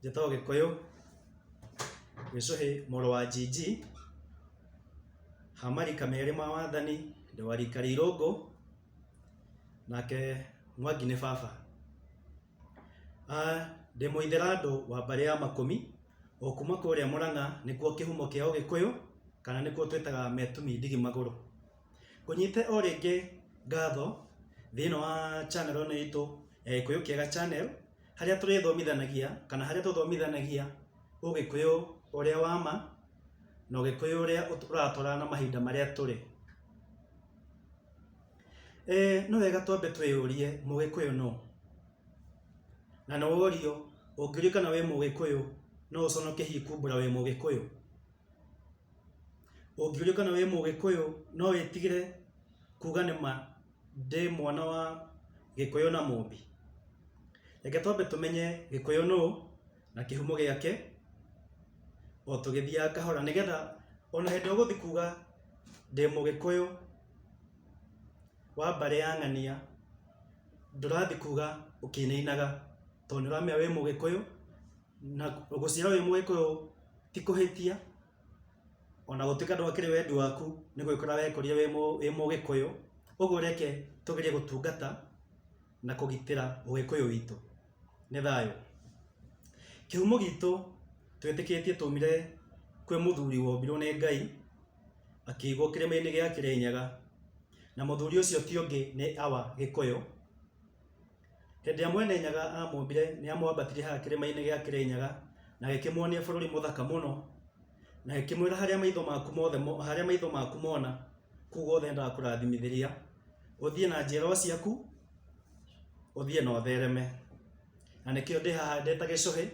Njĩta ũgĩkũyũ, Mĩcũhĩ mũrũ wa Njinji, ha marika merĩ ma wathani, ndĩ wa rika rĩa Irũngũ, nake Mwangi nĩ baba. Ndĩ mũithĩrandũ wa mbarĩ ya Makũmi, o kuma kũrĩa Mũrang'a, nĩkuo kĩhumo kĩa ũgĩkũyũ, kana nĩkuo twĩtaga Metumi ndigi magũrũ. Ngũnyite o rĩngĩ ngatho thĩiniĩ wa channel ĩno itũ ya Gĩkũyũ Kĩega Channel. harĩa tũrĩthomithanagia kana harĩa tũthomithanagia ũgĩkũyũ ũrĩa wa ma na ũgĩkũyũ ũrĩa ũratwarana na mahinda marĩa tũrĩ. Nĩ wega twambe twĩyũrie mũgĩkũyũ nũ? Na nĩ worio ũngĩũrio kana wĩ mũgĩkũyũ no ũconoke hihi kumbũra wĩ mũgĩkũyũ? Ũngĩũrio kana wĩ mũgĩkũyũ no wĩtigĩre kuga nĩ ma ndĩ mwana wa gĩkũyũ na mũmbi? Reke twambe tũmenye gĩkũyũ nũ na kĩhumo gĩake o tũgĩthiaga kahora nĩ getha o na hĩndĩ ĩrĩa ũgũthiĩ kuga ndĩ mũgĩkũyũ wa mbarĩ ya ng'ania ndũrathiĩ kuga ũkĩinainaga tondũ nĩ ũramenya wĩ mũgĩkũyũ na gũciarwo wĩ mũgĩkũyũ ti kũhĩtia ona gũtuĩka ndwakĩrĩ wendi waku nĩ gwĩkora wekorire wĩ mũgĩkũyũ, ũguo reke tũgerie gũtungata na kũgitĩra ũgĩkũyũ witũ. Nĩ thayũ. Kĩhumo gitũ twĩtĩkĩtie twaumire kwĩ mũthuri wombirwo nĩ Ngai, akĩigwo kĩrĩma-inĩ gĩa Kĩrĩnyaga, na mũthuri ũcio ti ũngĩ nĩ Awa Gĩkũyũ. Hĩndĩ ĩrĩa Mwene-Nyaga aamũmbire, nĩ aamwambatirie haha kĩrĩma-inĩ gĩa Kĩrĩnyaga, na agĩkĩmuonia bũrũri mũthaka mũno, na agĩkĩmwĩra harĩa maitho maku mothe mo, harĩa maitho maku mona, kũu guothe nĩ ndakũrathimithĩria, ũthiĩ na njiarwa ciaku, ũthiĩ na ũthereme. Na nĩkĩo ndĩ haha ndĩ ta gĩcũhĩ,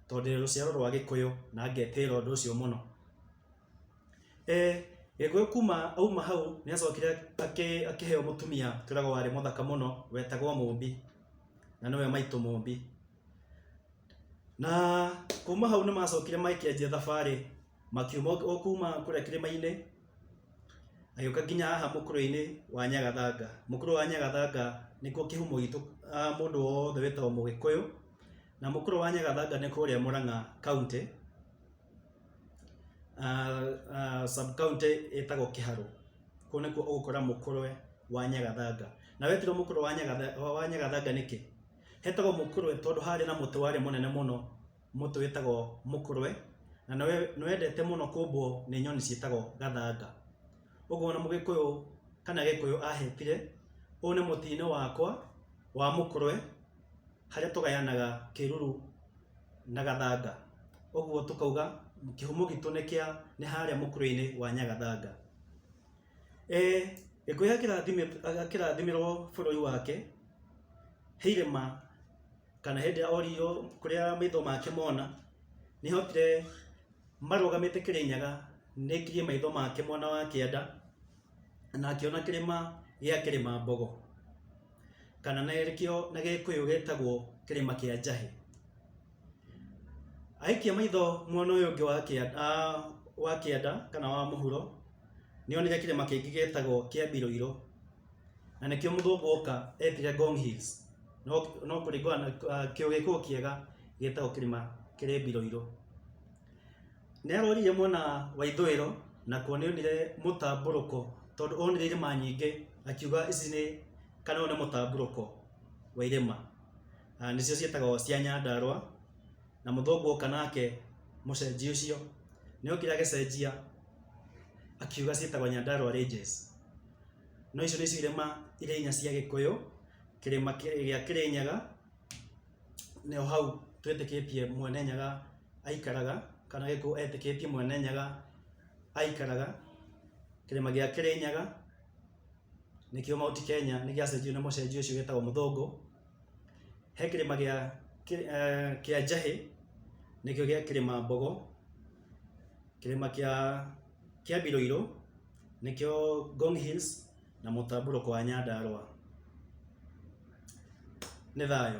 tondũ ndĩ rũciaro rwa Gĩkũyũ, na ngetĩĩra ũndũ ũcio mũno. Gĩkũyũ kuma auma hau nĩ acokire akĩheo mũtumia twĩragwo warĩ mũthaka mũno wetagwo Mũmbi na nĩwe maitũ Mũmbi. Na kuma hau nĩ macokire makĩanjia thabarĩ makiuma o kuma kũrĩa kĩrĩma-inĩ magĩũka nginya haha mũkũrwe-inĩ wa Nyagathanga. Mũkũrwe wa Nyagathanga nĩkuo kĩhumo gitũ mũndũ wothe wĩtagwo mũgĩkũyũ na mũkũrwe wa Nyagathanga nĩ kũrĩa Mũrang'a kauntĩ. sub county ĩtagwo Kĩharũ, kũu nĩkuo ũgũkora mũkũrwe wa nyagathanga, na wetirwo mũkũrwe wa nyagathanga, wa nyagathanga nĩkĩ? Hetagwo mũkũrwe tondũ harĩ na mũtĩ warĩ mũnene mũno, mũtĩ wĩtagwo mũkũrwe, na nĩ wendete mũno kũmbwo nĩ nyoni ciĩtagwo gathanga, ũguo ona mũgĩkũyũ kana gĩkũyũ ahetire, ũyũ nĩ mũtĩ-inĩ wakwa wa mũkũrwe. harĩa tũgayanaga kĩruru na gathanga, ũguo tũkauga kĩhumo gitũ nĩ kĩa nĩ harĩa mũkũrweinĩ wa Nyagathanga. Gĩkũyũ akĩrathimĩrwo bũrũri wake he irĩma kana hĩndĩ ĩrĩa oririo kũrĩa maitho make mona nĩ ahotire marũgamĩte Kĩrĩnyaga nĩ aikirie maitho make mwena wa kĩanda na akĩona kĩrĩma gĩa kĩrĩma mbogo kana nakĩo na gĩkũyũ gĩtagwo kĩrĩma kĩa njahĩ aikia maitho mwena ũyũ ũngĩ wa kĩanda, ah, wa kĩanda kana wa mũhuro nĩonire kĩrĩma kĩngĩ gĩtagwo kĩa mbiroiro na nĩkĩo mũthũngũ oka etire Ngong Hills no, no kũringana na ah, kĩũgĩkũyũ kĩega gĩtagwo kĩrĩma kĩrĩ mbiroiro Nĩarorire mwena wa ithũĩro, nakuo nĩonire mũtambũrũko, tondũ onire irĩma nyingĩ, akiuga ici nĩ, kana ũyũ nĩ mũtambũrũko wa irĩma. Na nĩcio ciĩtagwo cia Nyandarũa, na mũthũngũ oka nake mũcenjia ũcio, nĩokire agĩcenjia akiuga ciĩtagwo Nyandarũa Ranges. No icio nĩcio irĩma iria inya cia Gĩkũyũ, kĩrĩma gĩa Kĩrĩnyaga. nĩho hau twĩtĩkĩtie Mwene Nyaga aikaraga, kana gĩkũyũ etĩkĩtie Mwene Nyaga aikaraga, kĩrĩma gĩa Kĩrĩnyaga, nĩkĩo Mount Kenya nĩ gĩacenjirio nĩ mũcenjia ũcio wĩtagwo Mũthũngũ. He kĩrĩma gĩa kĩa Njahĩ, nĩkĩo gĩa kĩrĩma Mbogo, kĩrĩma kĩa kĩa Biroirũ, nĩkĩo Ngong Hills, na mũtambũrũko wa Nyandarũa. Nĩ thayũ.